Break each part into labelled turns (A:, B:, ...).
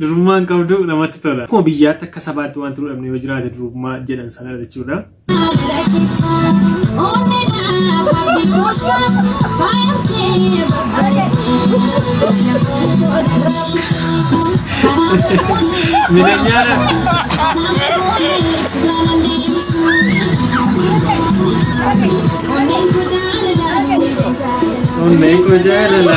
A: Durummaan qabdu namatti tola. Akkuma biyyaatti akka sabaatti wanti nu dhabne yoo jiraate durummaa jedhan sana jechuudha. Onneen koo jaalala.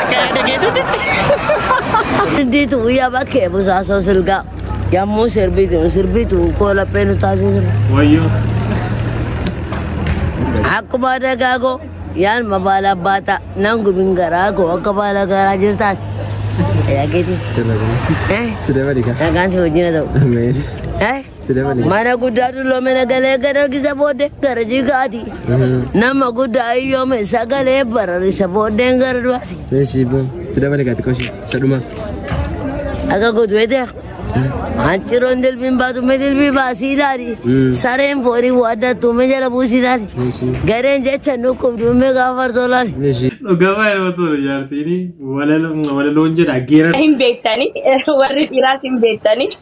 B: Akka yaada keetutti.
C: Dindiitu guyyaa bakkee busaasoo silgaa. Yammuu sirbiitu sirbiitu koo laphee nu taasisa. Wayyoo. Akkuma dagaagoo yaan mabaala baata nan gumin garaa koo akka baala garaa jirtaas. Yaa keetii. Sirba kun. Eh,
D: Sirba dhiga. nagaan si wajjin haa ta'u.
C: Ameen. Eh.
D: Mana guddaa dulloomina
C: galee garargisa booddee gara jigaati. Nama guddaa ayyoome sagalee bararisa booddeen gara du'aati. Meeshii boo. Itti
D: dabali gaati qoshi. Isa dhuma.
C: Akka godhu beektaa? Hanciroon dilbiin baatu mee dilbii baasii ilaali. Mm. Sareen foonii waaddattu mee jala buusii ilaali. Meeshii. Gareen jecha nukkubdu mee gaafa farsoo ilaali. Meeshii. Dhugaa baay'ee
D: namatti tola
A: jaartiin walaloon jedha geerara. hin beektani
E: warri dhiiraas hin beektani.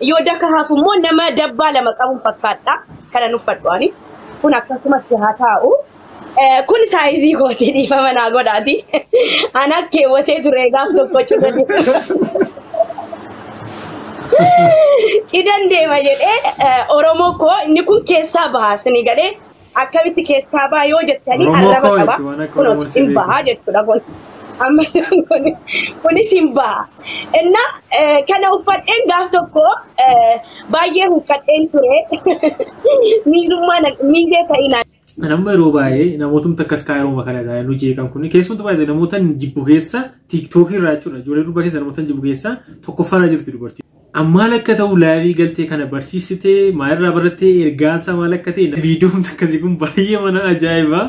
E: Yoo daka hafu immoo nama dabbaa lama qabuun fakkaadha. Kana nuffadhu ani. Kun akkasumatti haa taa'u. Eh, Kun saayizii kooti dhiifama naa godhaati. Ana keewwatee ture gaaf tokko cina cidan deema jedhee eh, Oromoo koo inni kun keessaa baha sini galee akkamitti keessaa baha yoo jettanii Oromoo arraba koo qaba. itti waan akka Kunooti Oromoon si hin baha beeku. jechuudha kun. Amma kun- kunis hin baha. Inna eh, kana uffadheen gaaf tokko eh, baay'ee huqqadheen ture. Miizummaa na- miizee ta'ii naan Kan amma yeroo baay'ee
A: namootni akkas kaayiroo kanadha nu jeeqan kun keessumattuu baay'ee namoota jibbu keessa tiiktookii irraa jechuudha ijoollee durbaa keessa namoota jibbu keessa tokkoffaarra jirti dubartii. An maal akka ta'u laayivii galtee kana barsiisite maalirraa barattee ergaansaa maal akka ta'e viidiyoon akkasii kun baay'ee mana ajaa'iba.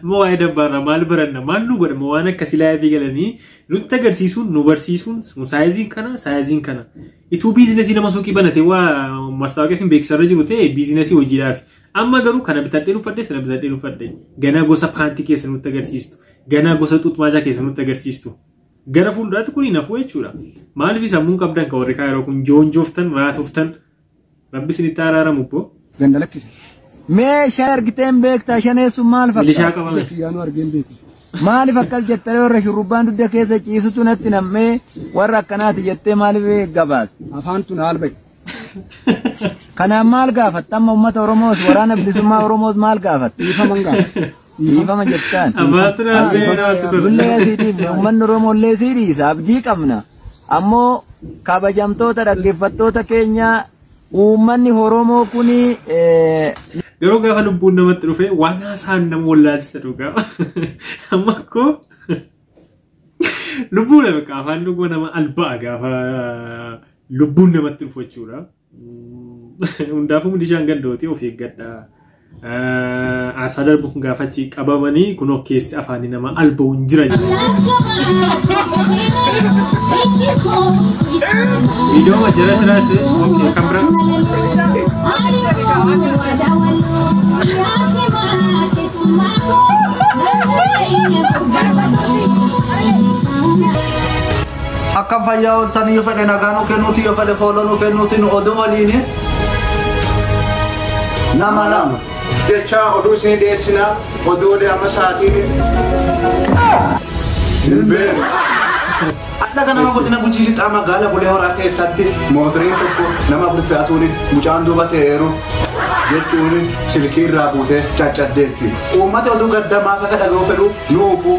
A: Amma waa'ee dabbaarraa maal baranna maal nu godhama waan akkasii laayivii galanii nutti agarsiisuun nu barsiisuun saayiziin kana saayiziin kana. Ituu biizinasii nama suuqii banate waa mastaawoqaa fi beeksisarra jiru ta'e biizinasii hojiidhaaf. Amma garuu kana bitadhee uffadhe sana bitadhee uffadhe ganaa gosa paantii keessa nutti agarsiistu ganaa gosa xuxmaachaa keessa nutti agarsiistu. Gara fuulduraatti kun hin hafuu jechuudha. Maaliif sammuun qabdan kan warri kaa yeroo kun joonjooftan raatoftan rabbi isinitti araaramu boo. Ganda lakkise.
D: Mee shaa argiteen beektaa shaneessuun maal Milishaa fakkaata? Ija qabame. kiyyaanuu
A: argeen beeku.
D: Maaliif akkas
F: jettee warra shurrubbaan dugda keessa ciisutu natti nammee warra akkanaati jettee maaliif gabaas? Afaan tun haal bahe. Kanaan maal gaafatta? Amma uummata Oromoos waraana bilisummaa Oromoos maal gaafatta? Dhiifama hin gaafatta.
D: Dhiifama jettaan.
F: Abaatira beeraatu
A: ture. Dullee asiitiif
F: uummanni Oromoo illee sii dhiisa. Abdii qabna. Ammoo kabajamtoota dhaggeeffattoota keenya uummanni Oromoo kuni eh,
A: Yeroo gaafa lubbuun namatti dhufe waan haasaan nama wallaalchisa dhugaa. Amma akkoo lubbuu nama qaafaan dhuguma nama alba'a gaafa lubbuun namatti dhufu jechuudha. Hundaafuu milishaan gandooti of eeggadha. Aasaa darbu kun gaafachi qabamanii kun of keessi afaanii nama alba'u hin jiran. Viidiyoo majjala siraatti kan biraa. Thank you.
G: Akkam fayyaa ooltanii yoo fedhe nagaa nu kennuuti yoo fedhe fooloo nu kennuuti nu oduu waliin nama lama. Jecha oduu isinii dhiyeessina oduu olee amma sa'aatiin. Hin beeku. Hadha kana nama godina gujii lixaa magaala bulee horaa keessatti mootoriin tokko nama afur fe'atuun mucaan duuba ta'eeru jechuun silkii irraa buutee caccaddeetti. Uummata oduu gaddamaa akka dhaga'u fedhu nuufu.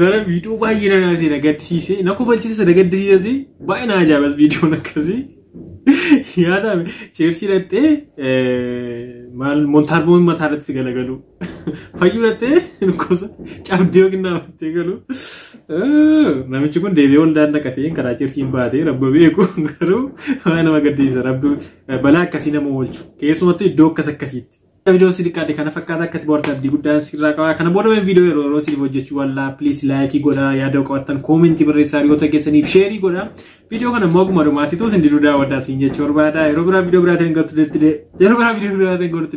A: Gara viidiyoo baay'ee na naasee na gaddisiise na kofalchiise na gaddisiise baay'ee na ajaa'ibas viidiyoon akkasii yaadame cheersii dhattee maal montaarboon mataa irratti si galagalu fayyuu dhattee gosa cabdee yookiin dhaabattee galu namichi kun deebi'ee waldaan naqatee karaa cheersiin baatee rabba beeku garuu baay'ee nama gaddisiisa rabbi balaa akkasii nama oolchu keessumattuu iddoo akkas akkasiitti. Viidiyoo si xiqqaate kana fakkaata akka itti bohaarte abdii guddaan sirraa qaba. Kana booda mee viidiyoo yeroo yeroo siif hojjechuu wallaa please laayikii godhaa yaada qabattan koomentii barreessaa hiriyoota keessaniif sheerii godhaa. Viidiyoo kana immoo akkuma dhumaatituu sin diduu daawwadhaa siin jechuu barbaada. Yeroo biraa viidiyoo biraatiin hin gattu yeroo biraa viidiyoo biraatiin hin gattu